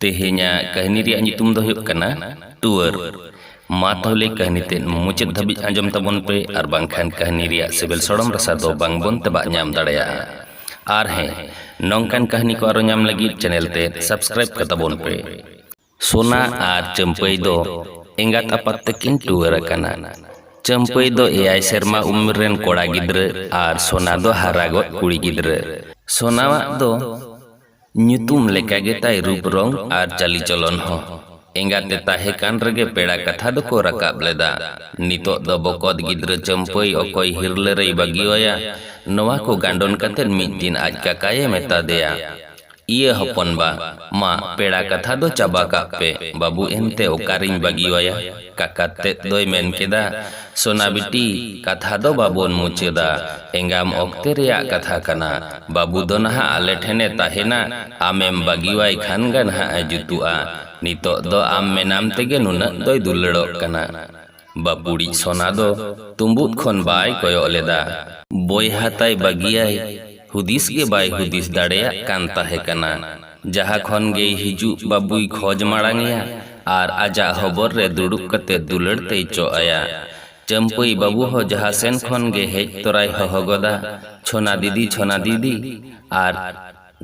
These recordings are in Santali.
ᱛᱮᱦᱮᱧᱟᱜ ᱠᱟᱹᱦᱱᱤ ᱨᱮᱭᱟᱜ ᱧᱩᱛᱩᱢ ᱫᱚ ᱦᱩᱭᱩᱜ ᱠᱟᱱᱟ ᱴᱩᱣᱟᱹᱨ ᱢᱟ ᱛᱟᱦᱚᱞᱮ ᱠᱟᱹᱦᱱᱤ ᱛᱮᱫ ᱢᱩᱪᱟᱹᱫ ᱫᱷᱟᱹᱵᱤᱡ ᱟᱸᱡᱚᱢ ᱛᱟᱵᱚᱱ ᱯᱮ ᱟᱨ ᱵᱟᱝᱠᱷᱟᱱ ᱠᱟᱹᱦᱱᱤ ᱨᱮᱭᱟᱜ ᱥᱤᱵᱤᱞ ᱥᱚᱲᱚᱢ ᱨᱟᱥᱟ ᱫᱚ ᱵᱟᱝ ᱵᱚᱱ ᱛᱮᱵᱟᱜ ᱧᱟᱢ ᱫᱟᱲᱮᱭᱟᱜᱼᱟ ᱟᱨ ᱦᱮᱸ ᱱᱚᱝᱠᱟᱱ ᱠᱟᱹᱦᱱᱤ ᱠᱚ ᱟᱨᱚ ᱧᱟᱢ ᱞᱟᱹᱜᱤᱫ ᱪᱮᱱᱮᱞ ᱛᱮᱫ ᱥᱟᱵᱥᱠᱨᱟᱭᱤᱵ ᱠᱟᱛᱟᱵᱚᱱ ᱯᱮ ᱥᱳᱱᱟ ᱟᱨ ᱪᱟᱹᱢᱯᱟᱹᱭ ᱫᱚ ᱮᱸᱜᱟᱛ ᱟᱯᱟᱛ ᱛᱮᱠᱤᱱ ᱴᱩᱣᱟᱹᱨ ᱟᱠᱟᱱᱟ ᱪᱟᱹᱢᱯᱟᱹᱭ ᱫᱚ ᱮᱭᱟᱭ ᱥᱮᱨᱢᱟ ᱩᱢᱮᱨ ᱨᱮᱱ ᱠᱚᱲᱟ ᱜᱤᱫᱽᱨᱟᱹ ᱟᱨ ᱥᱳᱱᱟ ᱫᱚ ᱦᱟᱨᱟ ᱜᱚᱫ ᱠᱩᱲᱤ ᱜᱤᱫᱽᱨᱟᱹ ᱥᱳᱱᱟᱣᱟᱜ ᱫᱚ ᱧᱩᱛᱩᱢ ᱞᱮᱠᱟ ᱜᱮ ᱛᱟᱭ ᱨᱩᱯ ᱨᱚᱝ ᱟᱨ ᱪᱟᱹᱞᱤ ᱪᱚᱞᱚᱱ ᱦᱚᱸ᱾ ᱮᱸᱜᱟᱛ ᱮ ᱛᱟᱦᱮᱸ ᱠᱟᱱ ᱨᱮᱜᱮ ᱯᱮᱲᱟ ᱠᱟᱛᱷᱟ ᱫᱚ ᱠᱚ ᱨᱟᱠᱟᱵ ᱞᱮᱫᱟ᱾ ᱱᱤᱛᱚᱜ ᱫᱚ ᱵᱚᱠᱚᱛ ᱜᱤᱫᱽᱨᱟᱹ ᱪᱟᱹᱢᱯᱟᱹᱭ ᱚᱠᱚᱭ ᱦᱤᱨᱞᱟᱹ ᱨᱮᱭ ᱵᱟᱹᱜᱤᱣᱟᱭᱟ? ᱱᱚᱣᱟ ᱠᱚ ᱜᱟᱱᱰᱚᱱ ᱠᱟᱛᱮ ᱢᱤᱫ ᱫᱤᱱ ᱟᱡ ᱠᱟᱠᱟᱭ ᱮ ᱢᱮᱛᱟ ᱫᱮᱭᱟ, ᱤᱭᱟᱹ ᱦᱚᱯᱚᱱ ᱵᱟ, ᱢᱟ ᱯᱮᱲᱟ ᱠᱟᱛᱷᱟ ᱫᱚ ᱪᱟᱵᱟ ᱠᱟᱜ ᱯᱮ, ᱵᱟᱹᱵᱩ ᱮᱱᱛᱮ ᱚᱠᱟ ᱨᱮᱧ ᱵᱟᱹᱜᱤᱣᱟᱭᱟ? ᱠᱟᱠᱟ ᱛᱮᱫ ᱫᱚᱭ ᱢᱮᱱ ᱠᱮᱫᱟ, ᱥᱚᱱᱟ ᱵᱤᱴᱤ, ᱠᱟᱛᱷᱟ ᱫᱚ ᱵᱟᱵᱚᱱ ᱢᱩᱪᱟᱹᱫᱟ᱾ ᱮᱸᱜᱟᱢ ᱚᱠᱛᱮ ᱨᱮᱭᱟᱜ ᱠᱟᱛᱷᱟ ᱠᱟᱱᱟ᱾ ᱵᱟᱹᱵᱩ ᱫᱚ ᱱᱟᱦᱟᱜ ᱟᱞᱮ ᱴᱷᱮᱱ ᱮ ᱛᱟᱦᱮᱸᱱᱟ, ᱟᱢᱮᱢ ᱵᱟᱹᱜᱤᱣᱟᱭ ᱠᱷᱟᱱ ᱜᱮ ᱱᱟᱦᱟᱜ ᱮ ᱡᱩᱛᱩᱜᱼᱟ᱾ ᱱᱤᱛᱚᱜ ᱫᱚ ᱟᱢ ᱢᱮᱱᱟᱢ ᱛᱮᱜᱮ ᱱᱩᱱᱟᱹᱜ ᱫᱚᱭ ᱫᱩᱞᱟᱹᱲᱚᱜ ᱠᱟᱱᱟ᱾ ᱵᱟᱹᱯᱩᱲᱤᱡ ᱥᱚᱱᱟ ᱫᱚ ᱛᱩᱸᱵᱩᱫ ᱠᱷᱚᱱ ᱵᱟᱭ ᱠᱚᱭᱚᱜ ᱞᱮᱫᱟ᱾ ᱵᱚᱭᱦᱟ ᱛᱟᱭ ᱵᱟᱹᱜᱤᱭᱟᱭ ᱦᱩᱫᱤᱥ ᱜᱮ ᱵᱟᱭ ᱦᱩᱫᱤᱥ ᱫᱟᱲᱮᱭᱟᱜ ᱠᱟᱱ ᱛᱟᱦᱮᱸ ᱠᱟᱱᱟ᱾ ᱡᱟᱦᱟᱸ ᱠᱷᱚᱱ ᱜᱮᱭ ᱦᱤᱡᱩᱜ ᱵᱟᱹᱵᱩᱭ ᱠᱷᱚᱡᱽ ᱢᱟᱬᱟᱝ ᱮᱭᱟ ᱟᱨ ᱟᱡᱟᱜ ᱦᱚᱵᱚᱨ ᱨᱮ ᱫᱩᱲᱩᱵ ᱠᱟᱛᱮ ᱫᱩᱞᱟᱹᱲ ᱛᱮᱭ ᱪᱚᱜ ᱟᱭᱟ᱾ ᱪᱟᱹᱢᱯᱟᱹᱭ ᱵᱟᱹᱵᱩ ᱦᱚᱸ ᱡᱟᱦᱟᱸ ᱥᱮᱱ ᱠᱷᱚᱱ ᱜᱮ ᱦᱮᱡ ᱛᱚᱨᱟᱭ ᱦᱚᱦᱚ ᱜᱚᱫᱟ, ᱪᱷᱚᱱᱟ ᱫᱤᱫᱤ, ᱪᱷᱚᱱᱟ ᱫᱤᱫᱤ᱾ ᱟᱨ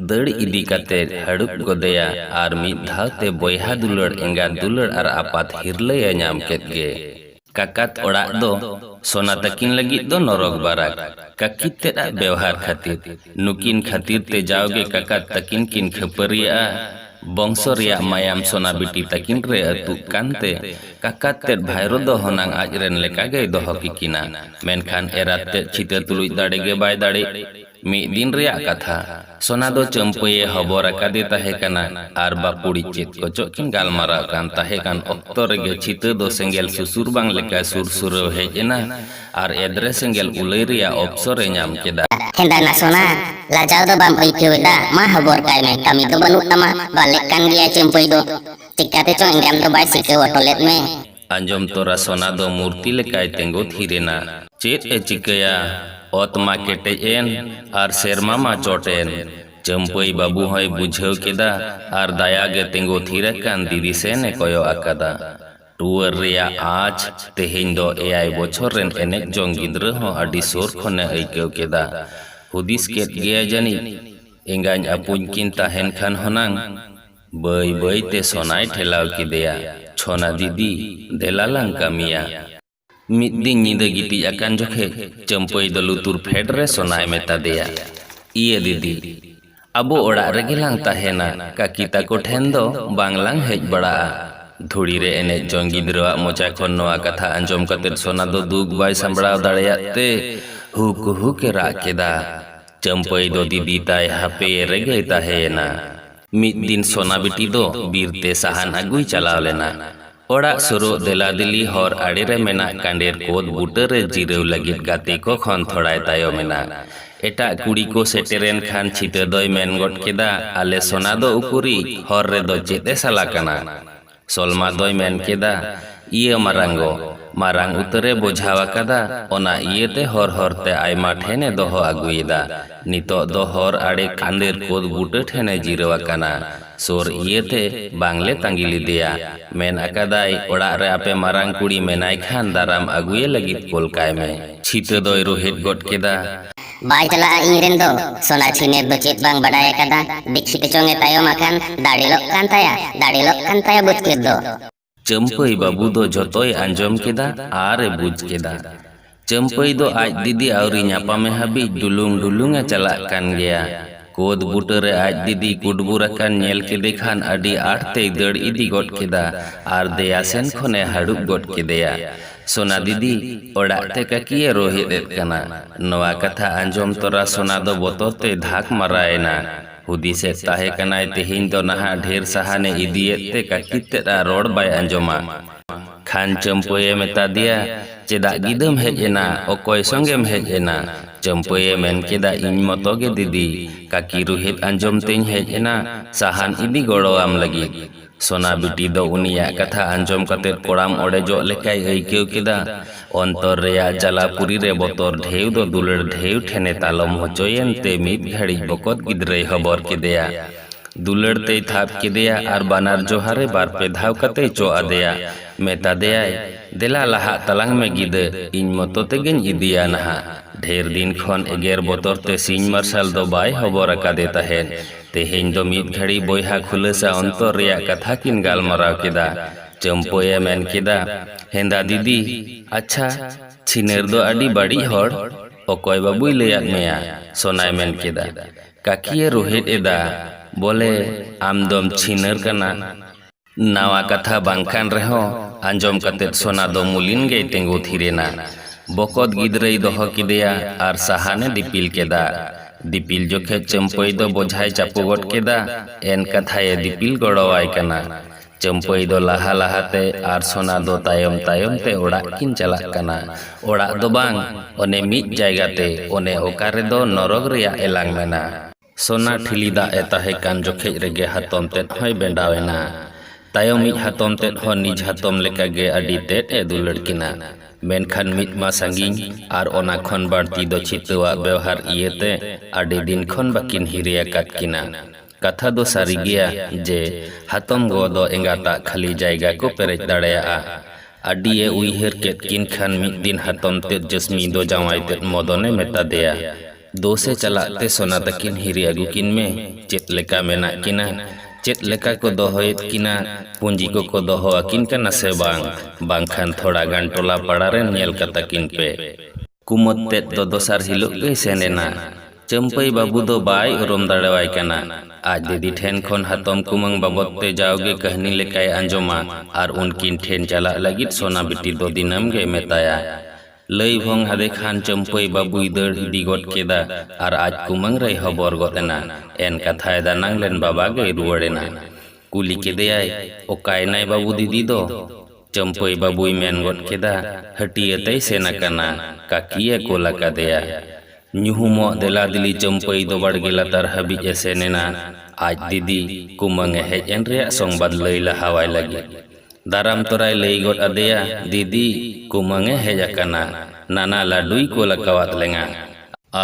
ᱫᱟᱹᱲ ᱤᱫᱤ ᱠᱟᱛᱮ ᱦᱟᱹᱲᱩᱵ ᱜᱚᱫᱮᱭᱟ ᱟᱨ ᱢᱤᱫ ᱫᱷᱟᱣ ᱛᱮ ᱵᱚᱭᱦᱟ ᱫᱩᱞᱟᱹᱲ, ᱮᱸᱜᱟᱛ ᱫᱩᱞᱟᱹᱲ ᱟᱨ ᱟᱯᱟᱛ ᱦᱤᱨᱞᱟᱹᱭᱮ ᱧᱟᱢ ᱠᱮᱫ ᱜᱮ᱾ ᱠᱟᱠᱟᱛ ᱚᱲᱟᱜ ᱫᱚ ᱥᱚᱱᱟ ᱛᱟᱹᱠᱤᱱ ᱞᱟᱹᱜᱤᱫ ᱫᱚ ᱱᱚᱨᱚᱠ ᱵᱟᱨᱟᱠ᱾ ᱠᱟᱹᱠᱤᱛ ᱛᱮᱫ ᱟᱜ ᱵᱮᱣᱦᱟᱨ ᱠᱷᱟᱹᱛᱤᱨ᱾ ᱱᱩᱠᱤᱱ ᱠᱷᱟᱹᱛᱤᱨ ᱛᱮ ᱡᱟᱣᱜᱮ ᱠᱟᱠᱟᱛ ᱛᱟᱹᱠᱤᱱ ᱠᱤᱱ ᱠᱷᱟᱹᱯᱟᱹᱨᱤᱭᱟᱜᱼᱟ᱾ ᱵᱚᱝᱥᱚ ᱨᱮᱭᱟᱜ ᱢᱟᱭᱟᱢ ᱥᱚᱱᱟ ᱵᱤᱴᱤ ᱛᱟᱹᱠᱤᱱ ᱨᱮ ᱟᱹᱛᱩᱜ ᱠᱟᱱ ᱛᱮ ᱠᱟᱠᱟᱛ ᱛᱮᱫ ᱵᱷᱟᱭᱨᱚ ᱫᱚ ᱦᱚᱱᱟᱝ ᱟᱡ ᱨᱮᱱ ᱞᱮᱠᱟ ᱜᱮᱭ ᱫᱚᱦᱚ ᱠᱮᱠᱤᱱᱟ᱾ ᱢᱮᱱᱠᱷᱟᱱ ᱮᱨᱟᱛ ᱛᱮᱫ ᱪᱷᱤᱛᱟᱹ ᱛᱩᱞᱩᱡ ᱫᱟᱲᱮ ᱜᱮ ᱵᱟᱭ ᱫᱟᱲᱮᱜ᱾ ᱢᱤᱫ ᱫᱤᱱ ᱨᱮᱭᱟᱜ ᱠᱟᱛᱷᱟ, ᱥᱚᱱᱟ ᱫᱚ ᱪᱟᱹᱢᱯᱟᱹᱭ ᱮ ᱦᱚᱵᱚᱨ ᱟᱠᱟᱫᱮ ᱛᱟᱦᱮᱸ ᱠᱟᱱᱟ ᱟᱨ ᱵᱟᱹᱯᱩᱲᱤ ᱪᱮᱫ ᱠᱚᱪᱚᱜ ᱠᱤᱱ ᱜᱟᱞᱢᱟᱨᱟᱣ ᱠᱟᱱ ᱛᱟᱦᱮᱸ ᱠᱟᱱ ᱚᱠᱛᱚ ᱨᱮᱜᱮ ᱪᱷᱤᱛᱟᱹ ᱫᱚ ᱥᱮᱸᱜᱮᱞ ᱥᱩᱥᱩᱨ ᱵᱟᱝ ᱞᱮᱠᱟ ᱥᱩᱨ ᱥᱩᱨᱟᱹᱣ ᱦᱮᱡ ᱮᱱᱟ ᱟᱨ ᱮᱫᱽᱨᱮ ᱥᱮᱸᱜᱮᱞ ᱩᱞᱟᱹᱭ ᱨᱮᱭᱟᱜ ᱚᱯᱥᱚᱨ ᱮ ᱧᱟᱢ ᱠᱮᱫᱟ᱾ ᱦᱮᱸᱫᱟ ᱮᱱᱟ ᱥᱚᱱᱟ, ᱞᱟᱡᱟᱣ ᱫᱚ ᱵᱟᱢ ᱟᱹᱭᱠᱟᱹᱣ ᱮᱫᱟ? ᱢᱟ ᱦᱚᱵᱚᱨ ᱠᱟᱭ ᱢᱮ, ᱠᱟᱹᱢᱤ ᱫᱚ ᱵᱟᱹᱱᱩᱜ ᱛᱟᱢᱟ᱾ ᱵᱟᱞᱮᱜ ᱠᱟᱱ ᱜᱮᱭᱟᱭ ᱪᱟᱹᱢᱯᱟᱹᱭ ᱫᱚ᱾ ᱪᱮᱠᱟᱛᱮ ᱪᱚᱝ ᱮᱸᱜᱟᱢ ᱫᱚ ᱵᱟᱭ ᱥᱤᱠᱟᱹᱣ ᱚᱴᱚ ᱞᱮᱫ ᱢᱮ᱾ ᱟᱸᱡᱚᱢ ᱛᱚᱨᱟ ᱥᱚᱱᱟ ᱫᱚ ᱢᱩᱨᱛᱤ ᱞᱮᱠᱟᱭ ᱛᱮᱸᱜᱳ ᱛᱷᱤᱨ ᱮᱱᱟ᱾ ᱪᱮᱫ ᱮ ᱪᱤᱠᱟᱹᱭᱟ? ᱚᱛ ᱢᱟ ᱠᱮᱴᱮᱡ ᱮᱱ ᱟᱨ ᱥᱮᱨᱢᱟ ᱢᱟ ᱪᱚᱴ ᱮᱱ᱾ ᱪᱟᱹᱢᱯᱟᱹᱭ ᱵᱟᱹᱵᱩ ᱦᱚᱸᱭ ᱵᱩᱡᱷᱟᱹᱣ ᱠᱮᱫᱟ ᱟᱨ ᱫᱟᱭᱟ ᱜᱮ ᱛᱮᱸᱜᱳ ᱛᱷᱤᱨ ᱟᱠᱟᱱ ᱫᱤᱫᱤ ᱥᱮᱱ ᱮ ᱠᱚᱭᱚᱜ ᱟᱠᱟᱫᱟ᱾ ᱴᱩᱣᱟᱹᱨ ᱨᱮᱭᱟᱜ ᱟᱸᱪ ᱛᱮᱦᱮᱧ ᱫᱚ ᱮᱭᱟᱭ ᱵᱚᱪᱷᱚᱨ ᱨᱮᱱ ᱮᱱᱮᱡ ᱡᱚᱝ ᱜᱤᱫᱽᱨᱟᱹ ᱦᱚᱸ ᱟᱹᱰᱤ ᱥᱳᱨ ᱠᱷᱚᱱ ᱮ ᱟᱹᱭᱠᱟᱹᱣ ᱠᱮᱫᱟ᱾ ᱦᱩᱫᱤᱥ ᱠᱮᱫ ᱜᱮᱭᱟᱭ ᱡᱟᱹᱱᱤᱡ, ᱮᱸᱜᱟᱧ ᱟᱹᱯᱩᱧ ᱠᱤᱱ ᱛᱟᱦᱮᱸᱱ ᱠᱷᱟᱱ ᱦᱚᱱᱟᱝ᱾ ᱵᱟᱹᱭ ᱵᱟᱹᱭ ᱛᱮ ᱥᱚᱱᱟᱭ ᱴᱷᱮᱞᱟᱣ ᱠᱮᱫᱮᱭᱟ᱾ ᱪᱷᱚᱱᱟ ᱫᱤᱫᱤ, ᱫᱮᱞᱟ ᱞᱟᱝ ᱠᱟᱹᱢᱤᱭᱟ᱾ ᱢᱤᱫ ᱫᱤᱱ ᱧᱤᱫᱟᱹ ᱜᱤᱛᱤᱡ ᱟᱠᱟᱱ ᱡᱚᱠᱷᱮᱡ ᱪᱟᱹᱢᱯᱟᱹᱭ ᱫᱚ ᱞᱩᱛᱩᱨ ᱯᱷᱮᱰ ᱨᱮ ᱥᱚᱱᱟᱭ ᱢᱮᱛᱟ ᱫᱮᱭᱟ, ᱤᱭᱟᱹ ᱫᱤᱫᱤ, ᱟᱵᱚ ᱚᱲᱟᱜ ᱨᱮᱜᱮ ᱞᱟᱝ ᱛᱟᱦᱮᱸᱱᱟ, ᱠᱟᱹᱠᱤ ᱛᱟᱠᱚ ᱴᱷᱮᱱ ᱫᱚ ᱵᱟᱝ ᱞᱟᱝ ᱦᱮᱡ ᱵᱟᱲᱟᱜᱼᱟ᱾ ᱫᱷᱩᱲᱤ ᱨᱮ ᱮᱱᱮᱡ ᱡᱚᱝ ᱜᱤᱫᱽᱨᱟᱹᱣᱟᱜ ᱢᱚᱪᱟ ᱠᱷᱚᱱ ᱱᱚᱶᱟ ᱠᱟᱛᱷᱟ ᱟᱸᱡᱚᱢ ᱠᱟᱛᱮ ᱥᱚᱱᱟ ᱫᱚ ᱫᱩᱠ ᱵᱟᱭ ᱥᱟᱢᱵᱽᱲᱟᱣ ᱫᱟᱲᱮᱭᱟᱫ ᱛᱮ ᱦᱩᱠ ᱦᱩᱠ ᱮ ᱨᱟᱜ ᱠᱮᱫᱟ᱾ ᱪᱟᱹᱢᱯᱟᱹᱭ ᱫᱚ ᱫᱤᱫᱤ ᱛᱟᱭ ᱦᱟᱯᱮᱭᱮ ᱨᱮᱜᱮᱭ ᱛᱟᱦᱮᱸᱭᱮᱱᱟ᱾ ᱢᱤᱫ ᱫᱤᱱ ᱥᱚᱱᱟ ᱵᱤᱴᱤ ᱫᱚ ᱵᱤᱨ ᱛᱮ ᱥᱟᱦᱟᱱ ᱟᱹᱜᱩᱭ ᱪᱟᱞᱟᱣ ᱞᱮᱱᱟ᱾ ᱚᱲᱟᱜ ᱥᱩᱨᱚᱜ ᱫᱮᱞᱟᱫᱤᱞᱤ ᱦᱚᱨ ᱟᱲᱮ ᱨᱮ ᱢᱮᱱᱟᱜ ᱠᱟᱸᱰᱮᱨ ᱠᱳᱫᱽ ᱵᱩᱴᱟᱹ ᱨᱮ ᱡᱤᱨᱟᱹᱣ ᱞᱟᱹᱜᱤᱫ ᱜᱟᱛᱮ ᱠᱚ ᱠᱷᱚᱱ ᱛᱷᱚᱲᱟᱭ ᱛᱟᱭᱚᱢ ᱮᱱᱟ᱾ ᱮᱴᱟᱜ ᱠᱩᱲᱤ ᱠᱚ ᱥᱮᱴᱮᱨᱮᱱ ᱠᱷᱟᱱ ᱪᱷᱤᱛᱟᱹ ᱫᱚᱭ ᱢᱮᱱ ᱜᱚᱫ ᱠᱮᱫᱟ, ᱟᱞᱮ ᱥᱚᱱᱟ ᱫᱚ ᱩᱠᱩᱨᱤᱡ, ᱦᱚᱨ ᱨᱮᱫᱚ ᱪᱮᱫ ᱮ ᱥᱟᱞᱟ ᱠᱟᱱᱟ᱾ ᱥᱚᱞᱢᱟ ᱫᱚᱭ ᱢᱮᱱ ᱠᱮᱫᱟ, ᱤᱭᱟᱹ ᱢᱟᱨᱟᱝ ᱜᱚ, ᱢᱟᱨᱟᱝ ᱩᱛᱟᱹᱨ ᱮ ᱵᱚᱡᱷᱟ ᱟᱠᱟᱫᱟ, ᱚᱱᱟ ᱤᱭᱟᱹ ᱛᱮ ᱦᱚᱨ ᱦᱚᱨ ᱛᱮ ᱟᱭᱢᱟ ᱴᱷᱮᱱ ᱮ ᱫᱚᱦᱚ ᱟᱹᱜᱩᱭᱮᱫᱟ᱾ ᱱᱤᱛᱚᱜ ᱫᱚ ᱦᱚᱨ ᱟᱲᱮ ᱠᱟᱸᱫᱮᱨ ᱠᱳᱫᱽ ᱵᱩᱴᱟᱹ ᱴᱷᱮᱱ ᱮ ᱡᱤᱨᱟᱹᱣ ᱟᱠᱟᱱᱟ᱾ ᱥᱳᱨ ᱤᱭᱟᱹ ᱛᱮ ᱵᱟᱝ ᱞᱮ ᱛᱟᱺᱜᱤ ᱞᱮᱫᱮᱭᱟ᱾ ᱢᱮᱱ ᱟᱠᱟᱫᱟᱭ, ᱚᱲᱟᱜ ᱨᱮ ᱟᱯᱮ ᱢᱟᱨᱟᱝ ᱠᱩᱲᱤ ᱢᱮᱱᱟᱭ ᱠᱷᱟᱱ ᱫᱟᱨᱟᱢ ᱟᱹᱜᱩᱭᱮ ᱞᱟᱹᱜᱤᱫ ᱠᱳᱞ ᱠᱟᱭ ᱢᱮ᱾ ᱪᱷᱤᱛᱟᱹ ᱫᱚᱭ ᱨᱩᱦᱮᱫ ᱜᱚᱫ ᱠᱮᱫᱟ᱾ ᱵᱟᱭ ᱪᱟᱞᱟᱜᱼᱟ ᱤᱧ ᱨᱮᱱ ᱫᱚ ᱥᱚᱱᱟᱪᱷᱤ ᱱᱮᱛ ᱫᱚ ᱪᱮᱫ ᱵᱟᱝ ᱵᱟᱰᱟᱭ ᱟᱠᱟᱫᱟ ᱫᱤᱠᱷᱤ ᱛᱮᱪᱚᱝ ᱮ ᱛᱟᱭᱚᱢ ᱟᱠᱟᱱ ᱫᱟᱲᱮᱞᱚᱜ ᱠᱟᱱ ᱛᱟᱭᱟ ᱫᱟᱲᱮᱞᱚᱜ ᱠᱟᱱ ᱛᱟᱭᱟ ᱵᱟᱹᱫᱽ ᱠᱷᱮᱛ ᱫᱚ᱾ ᱪᱟᱹᱢᱯᱟᱹᱭ ᱵᱟᱹᱵᱩ ᱫᱚ ᱡᱷᱚᱛᱚᱭ ᱟᱸᱡᱚᱢ ᱠᱮᱫᱟ ᱟᱨ ᱮ ᱵᱩᱡᱽ ᱠᱮᱫᱟ᱾ ᱪᱟᱹᱢᱯᱟᱹᱭ ᱫᱚ ᱟᱡ ᱫᱤᱫᱤ ᱟᱹᱣᱨᱤ ᱧᱟᱯᱟᱢᱮ ᱦᱟᱹᱵᱤᱡ ᱰᱩᱞᱩᱝ ᱰᱩᱞᱩᱝ ᱮ ᱪᱟᱞᱟᱜ ᱠᱟᱱ ᱜᱮᱭᱟ᱾ ᱠᱳᱫᱽ ᱵᱩᱴᱟᱹ ᱨᱮ ᱟᱡ ᱫᱤᱫᱤ ᱠᱩᱰᱵᱩᱨ ᱟᱠᱟᱱ ᱧᱮᱞ ᱠᱮᱫᱮ ᱠᱷᱟᱱ ᱟᱹᱰᱤ ᱟᱸᱴ ᱛᱮᱭ ᱫᱟᱹᱲ ᱤᱫᱤ ᱜᱚᱫ ᱠᱮᱫᱟ ᱟᱨ ᱫᱮᱭᱟ ᱥᱮᱱ ᱠᱷᱚᱱ ᱮ ᱦᱟᱹᱲᱩᱵ ᱜᱚᱫ ᱠᱮᱫᱮᱭᱟ᱾ ᱥᱳᱱᱟ ᱫᱤᱫᱤ, ᱚᱲᱟᱜ ᱛᱮ ᱠᱟᱹᱠᱤᱭᱮ ᱨᱳᱦᱮᱫ ᱮᱫ ᱠᱟᱱᱟ᱾ ᱱᱚᱣᱟ ᱠᱟᱛᱷᱟ ᱟᱸᱡᱚᱢ ᱛᱚᱨᱟ ᱥᱳᱱᱟ ᱫᱚ ᱵᱚᱛᱚᱨ ᱛᱮᱭ ᱫᱷᱟᱠ ᱢᱟᱨᱟ ᱮᱱᱟ᱾ ᱦᱩᱫᱤᱥ ᱮᱫ ᱛᱟᱦᱮᱸ ᱠᱟᱱᱟᱭ ᱛᱮᱦᱮᱧ ᱫᱚ ᱱᱟᱦᱟᱜ ᱰᱷᱮᱨ ᱥᱟᱦᱟᱱ ᱮ ᱤᱫᱤᱭᱮᱫ ᱛᱮ ᱠᱟᱹᱠᱤ ᱛᱮᱫ ᱟᱜ ᱨᱚᱲ ᱵᱟᱭ ᱟᱸᱡᱚᱢᱟ᱾ ᱠᱷᱟᱱ ᱪᱟᱹᱢᱯᱟᱹᱭᱮ ᱢᱮᱛᱟ ᱫᱮᱭᱟ ᱪᱮᱫᱟᱜ ᱜᱤᱫᱟᱹᱢ ᱦᱮᱡ ᱮᱱᱟ ᱚᱠᱚᱭ ᱥᱚᱸᱜᱮᱢ ᱦᱮᱡ ᱮᱱᱟ ᱪᱟᱹᱢᱯᱟᱹᱭᱮ ᱢᱮᱱ ᱠᱮᱫᱟ ᱤᱧ ᱢᱚᱛᱚ ᱜᱮ ᱫᱤᱫᱤ ᱠᱟᱠᱤ ᱨᱩᱦᱮᱫ ᱟᱸᱡᱚᱢ ᱛᱮᱧ ᱦᱮᱡ ᱮᱱᱟ ᱥᱟᱦᱟᱱ ᱤᱫᱤ ᱜᱚᱲᱚ ᱟᱢ ᱞᱟᱹᱜᱤᱫ ᱥᱚᱱᱟ ᱵᱤᱴᱤ ᱫᱚ ᱩᱱᱤᱭᱟᱜ ᱠᱟᱛᱷᱟ ᱟᱸᱡᱚᱢ ᱠᱟᱛᱮ ᱠᱚᱲᱟᱢ ᱚᱲᱮᱡᱚᱜ ᱞᱮᱠᱟᱭ ᱟᱹᱭᱠᱟᱹᱣ ᱠᱮᱫᱟ ᱚᱱᱛᱚᱨ ᱨᱮᱭᱟᱜ ᱡᱟᱞᱟ ᱯᱩᱨᱤ ᱨᱮ ᱵᱚᱛᱚᱨ ᱰᱷᱮᱣ ᱫᱚ ᱫᱩᱞᱟᱹᱲ ᱰᱷᱮᱣ ᱴᱷᱮᱱᱮ ᱛᱟᱞᱚᱢ ᱦᱚᱪᱚᱭᱮᱱ ᱛᱮ ᱢᱤᱫ ᱜᱷᱟᱹᱲᱤᱡ ᱵᱚᱠᱚᱛ ᱜᱤᱫᱽᱨᱟᱹᱭ ᱦᱚᱵᱚᱨ ᱠᱮᱫᱮᱭᱟ ᱫᱩᱞᱟᱹᱲ ᱛᱮᱭ ᱛᱷᱟᱵ ᱠᱮᱫᱮᱭᱟ ᱟᱨ ᱵᱟᱱᱟᱨ ᱡᱚᱦᱟᱨ ᱨᱮ ᱵᱟᱨ ᱯᱮ ᱫᱷᱟᱣ ᱠᱟᱛᱮᱭ ᱪᱚᱜ ᱟᱫᱮᱭᱟ᱾ ᱢᱮᱛᱟ ᱫᱮᱭᱟᱭ, ᱫᱮᱞᱟ ᱞᱟᱦᱟᱜ ᱛᱟᱞᱟᱝ ᱢᱮ ᱜᱤᱫᱟᱹ, ᱤᱧ ᱢᱚᱛᱚ ᱛᱮᱜᱮᱧ ᱤᱫᱤᱭᱟ ᱱᱟᱦᱟᱜ᱾ ᱰᱷᱮᱨ ᱫᱤᱱ ᱠᱷᱚᱱ ᱮᱜᱮᱨ ᱵᱚᱛᱚᱨ ᱛᱮ ᱥᱤᱧ ᱢᱟᱨᱥᱟᱞ ᱫᱚ ᱵᱟᱭ ᱦᱚᱵᱚᱨ ᱟᱠᱟᱫᱮ ᱛᱟᱦᱮᱸᱫ᱾ ᱛᱮᱦᱮᱧ ᱫᱚ ᱢᱤᱫ ᱜᱷᱟᱹᱲᱤ ᱵᱚᱭᱦᱟ ᱠᱷᱩᱞᱟᱹᱥᱟ ᱚᱱᱛᱚᱨ ᱨᱮᱭᱟᱜ ᱠᱟᱛᱷᱟ ᱠᱤᱱ ᱜᱟᱞᱢᱟᱨᱟᱣ ᱠᱮᱫᱟ᱾ ᱪᱟᱹᱢᱯᱟᱹᱭ ᱮ ᱢᱮᱱ ᱠᱮᱫᱟ, ᱦᱮᱸᱫᱟ ᱫᱤᱫᱤ, ᱟᱪᱪᱷᱟ, ᱪᱷᱤᱱᱟᱹᱨ ᱫᱚ ᱟᱹᱰᱤ ᱵᱟᱹᱲᱤᱡ ᱦᱚᱲ? ᱚᱠᱚᱭ ᱵᱟᱹᱵᱩᱭ ᱞᱟᱹᱭᱟᱫ ᱢᱮᱭᱟ? ᱥᱚᱱᱟᱭ ᱢᱮᱱ ᱠᱮᱫᱟ᱾ ᱠᱟᱠᱤᱭᱮ ᱨᱩᱦᱮᱫ ᱮᱫᱟ, ᱵᱚᱞᱮ ᱟᱢ ᱫᱚᱢ ᱪᱷᱤᱱᱟᱹᱨ ᱠᱟᱱᱟ᱾ ᱱᱟᱣᱟ ᱠᱟᱛᱷᱟ ᱵᱟᱝ ᱠᱟᱱ ᱨᱮᱦᱚᱸ ᱟᱸᱡᱚᱢ ᱠᱟᱛᱮ ᱥᱚᱱᱟ ᱫᱚ ᱢᱩᱞᱤᱱ ᱜᱮᱭ ᱛᱮᱸᱜᱩ ᱛᱷᱤᱨ ᱮᱱᱟ᱾ ᱵᱚᱠᱚᱛ ᱜᱤᱫᱽᱨᱟᱹᱭ ᱫᱚᱦᱚ ᱠᱮᱫᱮᱭᱟ ᱟᱨ ᱥᱟᱦᱟᱱ ᱮ ᱫᱤᱯᱤᱞ ᱠᱮᱫᱟ᱾ ᱫᱤᱯᱤᱞ ᱡᱚᱠᱷᱮᱡ ᱪᱟᱹᱢᱯᱟᱹᱭ ᱫᱚ ᱵᱚᱡᱷᱟᱭ ᱪᱟᱯᱚ ᱜᱚᱫ ᱠᱮᱫᱟ᱾ ᱮᱱ ᱠᱟᱛᱷᱟᱭᱮ ᱫᱤᱯᱤᱞ ᱜᱚᱲᱚᱣᱟᱭ ᱠᱟᱱᱟ᱾ ᱪᱟᱹᱢᱯᱟᱹᱭ ᱫᱚ ᱞᱟᱦᱟ ᱞᱟᱦᱟ ᱛᱮ ᱟᱨ ᱥᱚᱱᱟ ᱫᱚ ᱛᱟᱭᱚᱢ ᱛᱟᱭᱚᱢ ᱛᱮ ᱚᱲᱟᱜ ᱠᱤᱱ ᱪᱟᱞᱟᱜ ᱠᱟᱱᱟ᱾ ᱚᱲᱟᱜ ᱫᱚ ᱵᱟᱝ, ᱚᱱᱮ ᱢᱤᱫ ᱡᱟᱭᱜᱟ ᱛᱮ, ᱚᱱᱮ ᱚᱠᱟ ᱨᱮᱫᱚ ᱱᱚᱨᱚᱠ ᱨᱮᱭᱟᱜ ᱮᱞᱟᱝ ᱢᱮᱱᱟ᱾ ᱥᱚᱱᱟ ᱴᱷᱤᱞᱤ ᱫᱟᱜ ᱮ ᱛᱟᱦᱮᱸ ᱠᱟᱱ ᱡᱚᱠᱷᱮᱡ ᱨᱮᱜᱮ ᱦᱟᱛᱚᱢ ᱛᱮᱫ ᱦᱚᱸᱭ ᱵᱮᱸᱰᱟᱣ ᱮᱱᱟ᱾ ᱛᱟᱭᱚᱢᱤᱡ ᱦᱟᱛᱚᱢ ᱛᱮᱫ ᱦᱚᱸ ᱱᱤᱡ ᱦᱟᱛᱚᱢ ᱞᱮᱠᱟ ᱜᱮ ᱟᱹᱰᱤ ᱛᱮᱫ ᱮ ᱫᱩᱞᱟᱹᱲ ᱠᱤᱱᱟ᱾ ᱢᱮᱱᱠᱷᱟᱱ ᱢᱤᱫ ᱢᱟ ᱥᱟᱺᱜᱤᱧ ᱟᱨ ᱚᱱᱟ ᱠᱷᱚᱱ ᱵᱟᱹᱲᱛᱤ ᱫᱚ ᱪᱷᱤᱛᱟᱹᱣᱟᱜ ᱵᱮᱣᱦᱟᱨ ᱤᱭᱟᱹ ᱛᱮ ᱟᱹᱰᱤ ᱫᱤᱱ ᱠᱷᱚᱱ ᱵᱟᱹᱠᱤᱱ ᱦᱤᱨᱤ ᱟᱠᱟᱫ ᱠᱤᱱᱟ᱾ ᱠᱟᱛᱷᱟ ᱫᱚ ᱥᱟᱹᱨᱤ ᱜᱮᱭᱟ ᱡᱮ ᱦᱟᱛᱚᱢ ᱜᱚ ᱫᱚ ᱮᱸᱜᱟᱛᱟᱜ ᱠᱷᱟᱹᱞᱤ ᱡᱟᱭᱜᱟ ᱠᱚ ᱯᱮᱨᱮᱡ ᱫᱟᱲᱮᱭᱟᱜᱼᱟ᱾ ᱟᱹᱰᱤ ᱮ ᱩᱭᱦᱟᱹᱨ ᱠᱮᱫ ᱠᱤᱱ ᱠᱷᱟᱱ ᱢᱤᱫ ᱫᱤᱱ ᱦᱟᱛᱚᱢ ᱛᱮᱫ ᱡᱟᱹᱥᱢᱤ ᱫᱚ ᱡᱟᱶᱟᱭ ᱛᱮᱫ ᱢᱚᱫᱚᱱ ᱮ ᱢᱮᱛᱟ ᱫᱮᱭᱟ, ᱫᱳ ᱥᱮ ᱪᱟᱞᱟᱜ ᱛᱮ ᱥᱚᱱᱟ ᱛᱟᱹᱠᱤᱱ ᱦᱤᱨᱤ ᱟᱹᱜᱩ ᱠᱤᱱ ᱢᱮ ᱪᱮᱫ ᱞᱮᱠᱟ ᱢᱮᱱᱟᱜ ᱠᱤᱱᱟ, ᱪᱮᱫ ᱞᱮᱠᱟ ᱠᱚ ᱫᱚᱦᱚᱭᱮᱫ ᱠᱤᱱᱟ, ᱯᱩᱸᱡᱤ ᱠᱚ ᱠᱚ ᱫᱚᱦᱚ ᱟᱹᱠᱤᱱ ᱠᱟᱱᱟ ᱥᱮ ᱵᱟᱝ, ᱵᱟᱝᱠᱷᱟᱱ ᱛᱷᱚᱲᱟ ᱜᱟᱱ ᱴᱚᱞᱟ ᱯᱟᱲᱟ ᱨᱮᱱ ᱧᱮᱞ ᱠᱟᱛᱟ ᱠᱤᱱ ᱯᱮ᱾ ᱠᱩᱢᱚᱫᱽ ᱛᱮᱫ ᱫᱚ ᱫᱚᱥᱟᱨ ᱦᱤᱞᱚᱜ ᱜᱮᱭ ᱥᱮᱱ ᱮᱱᱟ᱾ ᱪᱟᱹᱢᱯᱟᱹᱭ ᱵᱟᱹᱵᱩ ᱫᱚ ᱵᱟᱭ ᱩᱨᱩᱢ ᱫᱟᱲᱮᱣᱟᱭ ᱠᱟᱱᱟ᱾ ᱟᱡ ᱫᱤᱫᱤ ᱴᱷᱮᱱ ᱠᱷᱚᱱ ᱦᱟᱛᱚᱢ ᱠᱩᱢᱟᱹᱝ ᱵᱟᱵᱚᱛ ᱛᱮ ᱡᱟᱣᱜᱮ ᱠᱟᱹᱦᱱᱤ ᱞᱮᱠᱟᱭ ᱟᱸᱡᱚᱢᱟ ᱟᱨ ᱩᱱᱠᱤᱱ ᱴᱷᱮᱱ ᱪᱟᱞᱟᱜ ᱞᱟᱹᱜᱤᱫ ᱥᱚᱱᱟ ᱵᱤᱴᱤ ᱫᱚ ᱫᱤᱱᱟᱹᱢ ᱜᱮᱭ ᱢᱮᱛᱟᱭᱟ᱾ ᱞᱟᱹᱭ ᱵᱷᱚᱝ ᱦᱟᱫᱮ ᱠᱷᱟᱱ ᱪᱟᱹᱢᱯᱟᱹᱭ ᱵᱟᱹᱵᱩᱭ ᱫᱟᱹᱲ ᱤᱫᱤ ᱜᱚᱫ ᱠᱮᱫᱟ ᱟᱨ ᱟᱡ ᱠᱩᱢᱟᱹᱝ ᱨᱮᱭ ᱦᱚᱵᱚᱨ ᱜᱚᱫ ᱮᱱᱟ᱾ ᱮᱱ ᱠᱟᱛᱷᱟᱭ ᱫᱟᱱᱟᱝ ᱞᱮᱱ ᱵᱟᱵᱟ ᱜᱮᱭ ᱨᱩᱣᱟᱹᱲ ᱮᱱᱟ᱾ ᱠᱩᱞᱤ ᱠᱮᱫᱮᱭᱟᱭ ᱚᱠᱟᱭᱮᱱᱟᱭ ᱵᱟᱹᱵᱩ ᱫᱤᱫᱤ ᱫᱚ? ᱪᱟᱹᱢᱯᱟᱹᱭ ᱵᱟᱹᱵᱩᱭ ᱢᱮᱱ ᱜᱚᱫ ᱠᱮᱫᱟ ᱦᱟᱹᱴᱤᱭᱟᱹ ᱛᱮᱭ ᱥᱮᱱ ᱟᱠᱟᱱᱟ ᱠᱟᱹᱠᱤ ᱮ ᱠᱳᱞ ᱟᱠᱟᱫᱮᱭᱟ᱾ ᱧᱩᱦᱩᱢᱚᱜ ᱫᱮᱞᱟ ᱫᱮᱞᱤ ᱪᱟᱹᱢᱯᱟᱹᱭ ᱫᱚ ᱵᱟᱲᱜᱮ ᱞᱟᱛᱟᱨ ᱦᱟᱹᱵᱤᱡ ᱮ ᱥᱮᱱ ᱮᱱᱟ ᱟᱡ ᱫᱤᱫᱤ ᱠᱩᱢᱟᱹᱝ ᱮ ᱦᱮᱡ ᱮᱱ ᱨᱮᱭᱟᱜ ᱥᱚᱝᱵᱟᱫᱽ ᱞᱟᱹᱭ ᱞᱟᱦᱟᱣᱟᱭ ᱞᱟᱹᱜᱤᱫ᱾ ᱫᱟᱨᱟᱢ ᱛᱚᱨᱟᱭ ᱞᱟᱹᱭ ᱜᱚᱫ ᱟᱫᱮᱭᱟ ᱫᱤᱫᱤ, ᱠᱩᱢᱟᱹᱝ ᱮ ᱦᱮᱡ ᱟᱠᱟᱱᱟ᱾ ᱱᱟᱱᱟ ᱞᱟᱹᱰᱩᱭ ᱠᱩᱞ ᱟᱠᱟᱣᱟᱫ ᱞᱮᱝᱟ᱾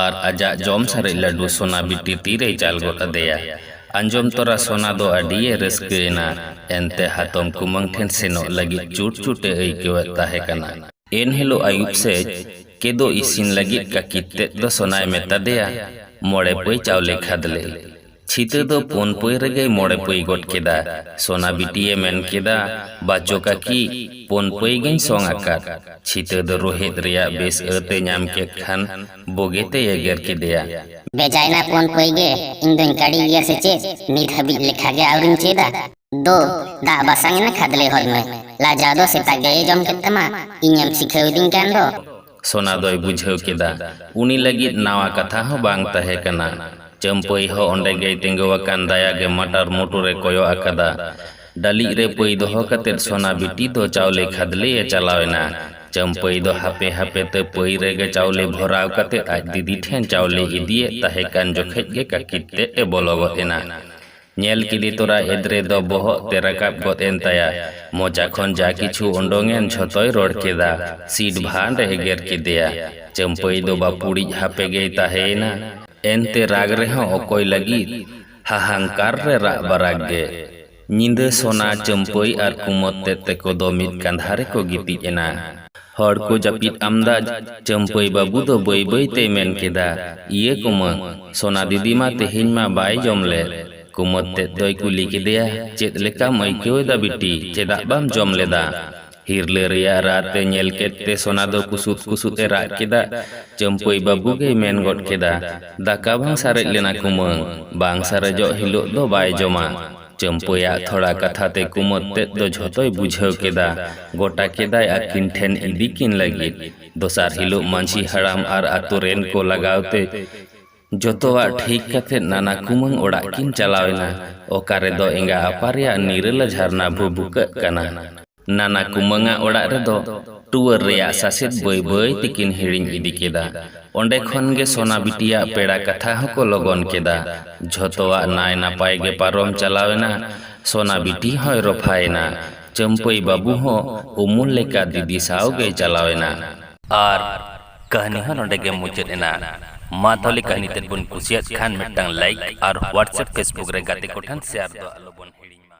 ᱟᱨ ᱟᱡᱟᱜ ᱡᱚᱢ ᱥᱟᱨᱮᱡ ᱞᱟᱹᱰᱩ ᱥᱚᱱᱟ ᱵᱤᱴᱤ ᱛᱤ ᱨᱮᱭ ᱪᱟᱞ ᱜᱚᱫ ᱟᱫᱮᱭᱟ᱾ ᱟᱸᱡᱚᱢ ᱛᱚᱨᱟ ᱥᱚᱱᱟ ᱫᱚ ᱟᱹᱰᱤ ᱮ ᱨᱟᱹᱥᱠᱟᱹ ᱮᱱᱟ᱾ ᱮᱱᱛᱮ ᱦᱟᱛᱚᱢ ᱠᱩᱢᱟᱹᱝ ᱴᱷᱮᱱ ᱥᱮᱱᱚᱜ ᱞᱟᱹᱜᱤᱫ ᱪᱩᱴ ᱪᱩᱴ ᱮ ᱟᱹᱭᱠᱟᱹᱣᱮᱫ ᱛᱟᱦᱮᱸ ᱠᱟᱱᱟ᱾ ᱮᱱᱦᱤᱞᱳᱜ ᱟᱹᱭᱩᱵ ᱥᱮᱡ ᱠᱮᱫᱳ ᱤᱥᱤᱱ ᱞᱟᱹᱜᱤᱫ ᱠᱟᱹᱠᱤᱛ ᱛᱮᱫ ᱫᱚ ᱥᱚᱱᱟᱭ ᱢᱮᱛᱟ ᱫᱮᱭᱟ ᱢᱚᱬᱮ ᱯᱟᱹᱭ ᱪᱟᱣᱞᱮ ᱠᱷᱟᱫᱽᱞᱮ᱾ ᱪᱷᱤᱛᱟᱹ ᱫᱚ ᱯᱳᱱ ᱯᱟᱹᱭ ᱨᱮᱜᱮᱭ ᱢᱚᱬᱮ ᱯᱟᱹᱭ ᱜᱚᱫ ᱠᱮᱫᱟ᱾ ᱥᱚᱱᱟ ᱵᱤᱴᱤᱭᱮ ᱢᱮᱱ ᱠᱮᱫᱟ, ᱵᱟᱪᱚ ᱠᱟᱹᱠᱤ, ᱯᱳᱱ ᱯᱟᱹᱭ ᱜᱮᱧ ᱥᱚᱝ ᱟᱠᱟᱫ᱾ ᱪᱷᱤᱛᱟᱹ ᱫᱚ ᱨᱩᱦᱮᱫ ᱨᱮᱭᱟᱜ ᱵᱮᱥ ᱟᱹᱛ ᱮ ᱧᱟᱢ ᱠᱮᱫ ᱠᱷᱟᱱ ᱵᱳᱜᱮ ᱛᱮᱭ ᱮᱜᱮᱨ ᱠᱮᱫᱮᱭᱟ᱾ ᱵᱮᱡᱟᱭᱱᱟ ᱯᱳᱱ ᱯᱟᱹᱭ ᱜᱮ, ᱤᱧ ᱫᱚᱧ ᱠᱟᱹᱲᱤ ᱜᱮᱭᱟ ᱥᱮ ᱪᱮᱫ? ᱱᱤᱛ ᱦᱟᱹᱵᱤᱡ ᱞᱮᱠᱷᱟ ᱜᱮ ᱟᱹᱣᱨᱤᱧ ᱪᱮᱫᱟ᱾ ᱫᱚ ᱫᱟᱜ ᱵᱟᱥᱟᱝ ᱮᱱᱟ ᱠᱷᱟᱫᱽᱞᱮ ᱦᱚᱫ ᱢᱮ ᱞᱟᱡᱟᱣ ᱫᱚ ᱥᱮᱛᱟ ᱜᱮᱭ ᱡᱚᱢ ᱠᱮᱫ ᱛᱟᱢᱟ ᱤᱧᱮᱢ ᱥᱤᱠᱷᱟᱹᱣ ᱤᱫᱤᱧ ᱠᱟᱱ ᱫᱚ᱾ ᱥᱚᱱᱟ ᱫᱚᱭ ᱵᱩᱡᱷᱟᱹᱣ ᱠᱮᱫᱟ ᱩᱱᱤ ᱞᱟᱹᱜᱤᱫ ᱱᱟᱣᱟ ᱠᱟᱛᱷᱟ ᱦᱚᱸ ᱵᱟᱝ ᱛᱟᱦᱮᱸ ᱠᱟᱱᱟ᱾ ᱪᱟᱹᱢᱯᱟᱹᱭ ᱦᱚᱸ ᱚᱱᱰᱮ ᱜᱮᱭ ᱛᱤᱸᱜᱩ ᱟᱠᱟᱱ ᱫᱟᱭᱟ ᱜᱮ ᱢᱟᱴᱟᱨ ᱢᱩᱴᱩᱨ ᱮ ᱠᱚᱭᱚᱜ ᱟᱠᱟᱫᱟ᱾ ᱰᱟᱹᱞᱤᱡ ᱨᱮ ᱯᱟᱹᱭ ᱫᱚᱦᱚ ᱠᱟᱛᱮ ᱥᱚᱱᱟ ᱵᱤᱴᱤ ᱫᱚ ᱪᱟᱣᱞᱮ ᱠᱷᱟᱫᱽᱞᱮ ᱮ ᱪᱟᱞᱟᱣ ᱮᱱᱟ᱾ ᱪᱟᱹᱢᱯᱟᱹᱭ ᱫᱚ ᱦᱟᱯᱮ ᱦᱟᱯᱮ ᱛᱮ ᱯᱟᱹᱭ ᱨᱮᱜᱮ ᱪᱟᱣᱞᱮ ᱵᱷᱚᱨᱟᱣ ᱠᱟᱛᱮ ᱟᱡ ᱫᱤᱫᱤ ᱴᱷᱮᱱ ᱪᱟᱣᱞᱮ ᱤᱫᱤ ᱮᱫ ᱛᱟᱦᱮᱸ ᱠᱟᱱ ᱡᱚᱠᱷᱮᱡ ᱜᱮ ᱠᱟᱹᱠᱤᱴ ᱛᱮᱫ ᱮ ᱵᱚᱞᱚ ᱜᱚᱫ ᱮᱱᱟ᱾ ᱧᱮᱞ ᱠᱤᱫᱤ ᱛᱚᱨᱟ ᱮᱫᱽᱨᱮ ᱫᱚ ᱵᱚᱦᱚᱜ ᱛᱮ ᱨᱟᱠᱟᱵ ᱜᱚᱫ ᱮᱱ ᱛᱟᱭᱟ᱾ ᱢᱚᱪᱟ ᱠᱷᱚᱱ ᱡᱟ ᱠᱤᱪᱷᱩ ᱚᱰᱚᱝ ᱮᱱ ᱡᱷᱚᱛᱚᱭ ᱨᱚᱲ ᱠᱮᱫᱟ᱾ ᱥᱤᱰ ᱵᱷᱟᱸᱰ ᱮ ᱮᱜᱮᱨ ᱠᱮᱫᱮᱭᱟ᱾ ᱪᱟᱹᱢᱯᱟᱹᱭ ᱫᱚ ᱵᱟᱹᱯᱩᱲᱤᱡ ᱦᱟᱯᱮ ᱜᱮᱭ ᱛᱟᱦᱮᱸᱭᱮᱱᱟ᱾ ᱮᱱᱛᱮ ᱨᱟᱜᱽ ᱨᱮᱦᱚᱸ ᱚᱠᱚᱭ ᱞᱟᱹᱜᱤᱫ? ᱦᱟᱦᱟᱝᱠᱟᱨ ᱨᱮ ᱨᱟᱜ ᱵᱟᱨᱟᱜᱽ ᱜᱮ᱾ ᱧᱤᱫᱟᱹ ᱥᱚᱱᱟ, ᱪᱟᱹᱢᱯᱟᱹᱭ ᱟᱨ ᱠᱩᱢᱚᱫᱽ ᱛᱮᱫ ᱛᱮᱠᱚ ᱫᱚ ᱢᱤᱫ ᱠᱟᱸᱫᱷᱟ ᱨᱮᱠᱚ ᱜᱤᱛᱤᱡ ᱮᱱᱟ᱾ ᱦᱚᱲ ᱠᱚ ᱡᱟᱹᱯᱤᱫ ᱟᱢᱫᱟ ᱪᱟᱹᱢᱯᱟᱹᱭ ᱵᱟᱹᱵᱩ ᱫᱚ ᱵᱟᱹᱭ ᱵᱟᱹᱭ ᱛᱮᱭ ᱢᱮᱱ ᱠᱮᱫᱟ, ᱤᱭᱟᱹ ᱠᱩᱢᱟᱹᱝ, ᱥᱚᱱᱟ ᱫᱤᱫᱤ ᱢᱟ ᱛᱮᱦᱮᱧ ᱢᱟ ᱵᱟᱭ ᱡᱚᱢ ᱞᱮᱫ᱾ ᱠᱩᱢᱟᱹᱫ ᱛᱮᱫ ᱫᱚᱭ ᱠᱩᱞᱤ ᱠᱮᱫᱮᱭᱟ, ᱪᱮᱫ ᱞᱮᱠᱟᱢ ᱟᱹᱭᱠᱟᱹᱣ ᱮᱫᱟ ᱵᱤᱴᱤ, ᱪᱮᱫᱟᱜ ᱵᱟᱢ ᱡᱚᱢ ᱞᱮᱫᱟ? ᱦᱤᱨᱞᱟᱹ ᱨᱮᱭᱟᱜ ᱨᱟᱜ ᱛᱮ ᱧᱮᱞ ᱠᱮᱫ ᱛᱮ ᱥᱚᱱᱟ ᱫᱚ ᱠᱩᱥᱩᱫ ᱠᱩᱥᱩᱫ ᱮ ᱨᱟᱜ ᱠᱮᱫᱟ᱾ ᱪᱟᱹᱢᱯᱟᱹᱭ ᱵᱟᱹᱵᱩ ᱜᱮᱭ ᱢᱮᱱ ᱜᱚᱫ ᱠᱮᱫᱟ, ᱫᱟᱠᱟ ᱵᱟᱝ ᱥᱟᱨᱮᱡ ᱞᱮᱱᱟ ᱠᱩᱢᱟᱹᱝ, ᱵᱟᱝ ᱥᱟᱨᱮᱡᱚᱜ ᱦᱤᱞᱚᱜ ᱫᱚ ᱵᱟᱭ ᱡᱚᱢᱟ᱾ ᱪᱟᱹᱢᱯᱟᱹᱭᱟᱜ ᱛᱷᱚᱲᱟ ᱠᱟᱛᱷᱟ ᱛᱮ ᱠᱩᱢᱟᱹᱫᱽ ᱛᱮᱫ ᱫᱚ ᱡᱷᱚᱛᱚᱭ ᱵᱩᱡᱷᱟᱹᱣ ᱠᱮᱫᱟ᱾ ᱜᱚᱴᱟ ᱠᱮᱫᱟᱭ ᱟᱹᱠᱤᱱ ᱴᱷᱮᱱ ᱤᱫᱤ ᱠᱤᱱ ᱞᱟᱹᱜᱤᱫ᱾ ᱫᱚᱥᱟᱨ ᱦᱤᱞᱚᱜ ᱢᱟᱹᱡᱷᱤ ᱦᱟᱲᱟᱢ ᱟᱨ ᱟᱹᱛᱩ ᱨᱮᱱ ᱠᱚ ᱞᱟᱜᱟᱣ ᱛᱮ ᱡᱚᱛᱚᱣᱟᱜ ᱴᱷᱤᱠ ᱠᱟᱛᱮ ᱱᱟᱱᱟ ᱠᱩᱢᱟᱹᱝ ᱚᱲᱟᱜ ᱠᱤᱱ ᱪᱟᱞᱟᱣ ᱮᱱᱟ᱾ ᱚᱠᱟ ᱨᱮᱫᱚ ᱮᱸᱜᱟ ᱟᱯᱟ ᱨᱮᱭᱟᱜ ᱱᱤᱨᱟᱹᱞᱟ ᱡᱷᱟᱨᱱᱟ ᱵᱷᱩᱵᱩᱠᱟᱹᱜ ᱠᱟᱱᱟ᱾ ᱱᱟᱱᱟ ᱠᱩᱢᱟᱹᱝ ᱟᱜ ᱚᱲᱟᱜ ᱨᱮᱫᱚ ᱴᱩᱣᱟᱹᱨ ᱨᱮᱭᱟᱜ ᱥᱟᱥᱮᱛ ᱵᱟᱹᱭ ᱵᱟᱹᱭ ᱛᱮᱠᱤᱱ ᱦᱤᱲᱤᱧ ᱤᱫᱤ ᱠᱮᱫᱟ᱾ ᱚᱱᱰᱮ ᱠᱷᱚᱱ ᱜᱮ ᱥᱚᱱᱟ ᱵᱤᱴᱤᱭᱟᱜ ᱯᱮᱲᱟ ᱠᱟᱛᱷᱟ ᱦᱚᱸ ᱠᱚ ᱞᱚᱜᱚᱱ ᱠᱮᱫᱟ᱾ ᱡᱷᱚᱛᱚᱣᱟᱜ ᱱᱟᱭ ᱱᱟᱯᱟᱭ ᱜᱮ ᱯᱟᱨᱚᱢ ᱪᱟᱞᱟᱣ ᱮᱱᱟ᱾ ᱥᱚᱱᱟ ᱵᱤᱴᱤ ᱦᱚᱸᱭ ᱨᱚᱯᱷᱟ ᱮᱱᱟ᱾ ᱪᱟᱹᱢᱯᱟᱹᱭ ᱵᱟᱹᱵᱩ ᱦᱚᱸ ᱩᱢᱩᱞ ᱞᱮᱠᱟ ᱫᱤᱫᱤ ᱥᱟᱶ ᱜᱮᱭ ᱪᱟᱞᱟᱣ ᱮᱱᱟ᱾ ᱟᱨ ᱠᱟᱹᱦᱱᱤ ᱦᱚᱸ ᱱᱚᱰᱮ ᱜᱮ ᱢᱩᱪᱟᱹᱫ ᱮᱱᱟ᱾ ᱢᱟ ᱛᱟᱦᱚᱞᱮ ᱠᱟᱹᱦᱱᱤ ᱛᱮᱫ ᱵᱚᱱ ᱠᱩᱥᱤᱭᱟᱫ ᱠᱷᱟᱱ ᱢᱤᱫᱴᱟᱝ ᱞᱟᱭᱤᱠ ᱟᱨ ᱦᱣᱟᱴᱥᱮᱯ ᱯᱷᱮᱥᱵᱩᱠ ᱨᱮ ᱜᱟᱛᱮ ᱠᱚ ᱴᱷᱮᱱ ᱥᱮᱭᱟᱨ ᱫᱚ ᱟᱞᱚ ᱵᱚᱱ ᱦᱤᱲᱤᱧ ᱢᱟ᱾